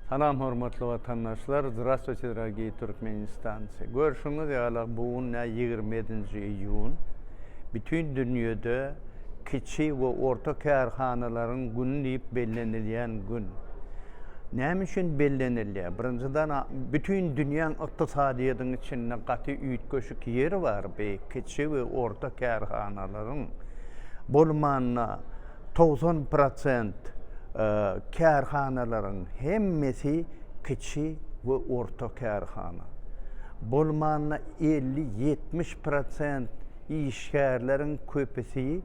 Salam hormatly watandaşlar Zdrastwuyte dragiý Türkmenistancy Görşüňiz ýala bu gün nä ýigrimi ýedinji iýun Bütin dünýede kiçi we orta kärhanalaryň güni diýip bellenilýän gün Näme üçin bellenilýär birinjiden bütin dünýäň ykdysadyýetiň içinde gaty üýtgeşik ýeri bar bi kiçi we orta kärhanalaryň bolmanda Togsan prosent kärhanalaryň hemmesi kiçi we orta kärhana. Bolmanda elli-ýetmiş prosent işgärleriň köpüsi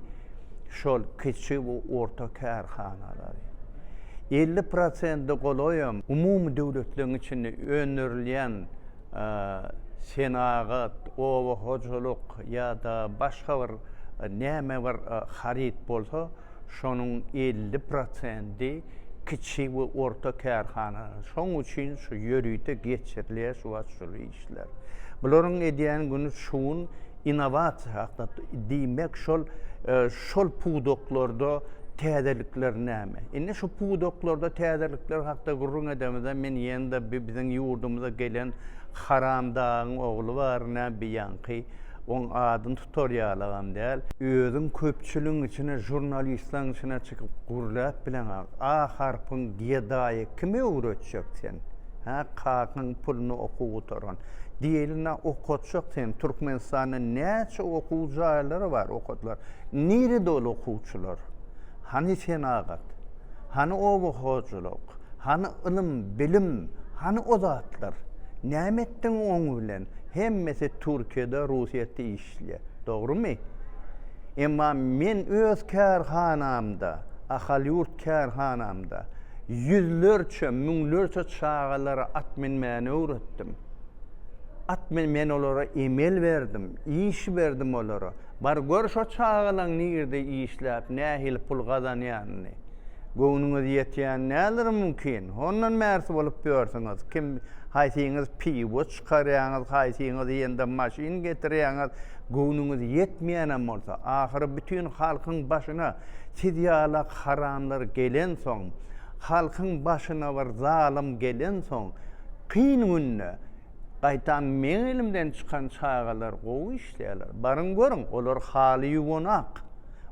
şol kiçi we orta kärhanalary. Elli prosente golaýam umumy döwletleriň içinde öndürilýän senagat, oba hojalyk ýa-da başga bir näme bir haryt bolsa, şonuň elli prosenti kiçi we orta kärhana. Şoň üçin şu ýörite geçirilýär şu wagt şol işler. Bularyň edýän güni şu gün Innowasiýa hakda diýmek şol şol pudaklarda täzelikler näme? Indi şu pudaklarda täzelikler hakda gürrüň edemizde men ýene-de biziň ýurdumyza gelen Haramdagyň ogly bar nä bi ýaňky oň adyny tutar ýalygam däl. Özüň köpçüligiň içine žurnalistlaň içine çykyp gürläp bileňa A harpyň gedaýy kime öwretjek sen? Hä kakaň puluna okuw gutaran Diýilina okatjak sen Türkmenistanda näçe okuw jaýlary bar okatlar nirede ol okuwçylar hany senagat hany oba hojalyk hany ylym bilim hany o zatlar näme etdiň oň bilen hemmesi türkiýede russiýada iş işleýär. Dogrumy? Emma men öz kärhanamda, Ahal ýurt kärhanamda ýüzlerçe, müňlerçe çagalara at minmäni öwretdim. At men, men olara emel berdim, iş berdim olara. Bar gör şo çagalaň nirde işläp, nähili pul gazanýanyny. Göwnüňiz ýetýän däldir mümkin. Hondan märsi bolup ýörsiňiz. Kim, haýsyňyz piwoç, Çykarýaňyz haýsyňyz ýendem maşyn getirýäňiz göwnüňiz ýetmeýänem bolsa ahyry bütin halkyň başyna siz ýala haramlar gelensoň halkyň başyna bir zalym gelensoň kyn günde gaýtam meň elimden çykan çagalar gowy işleýäler baryň görüň olar haly ýuwanak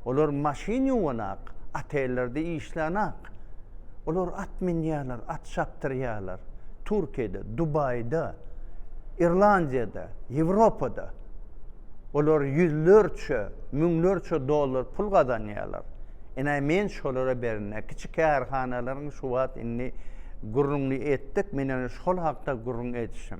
Olar maşyn ýuwanak, otellerde işlänak. Olar at minýärler, at çapdyrýarlar. Türkiýede, Dubaýda, Irlandiýada, Ýewropada. Olar ýüzlerçe, müňlerçe dollar pul gazanýarlar. Ine, men şolara berine. Kiçi kärhanalaryň şu wagt indi gürrüňini etdik, men ýene şol hakda gürrüň edişim.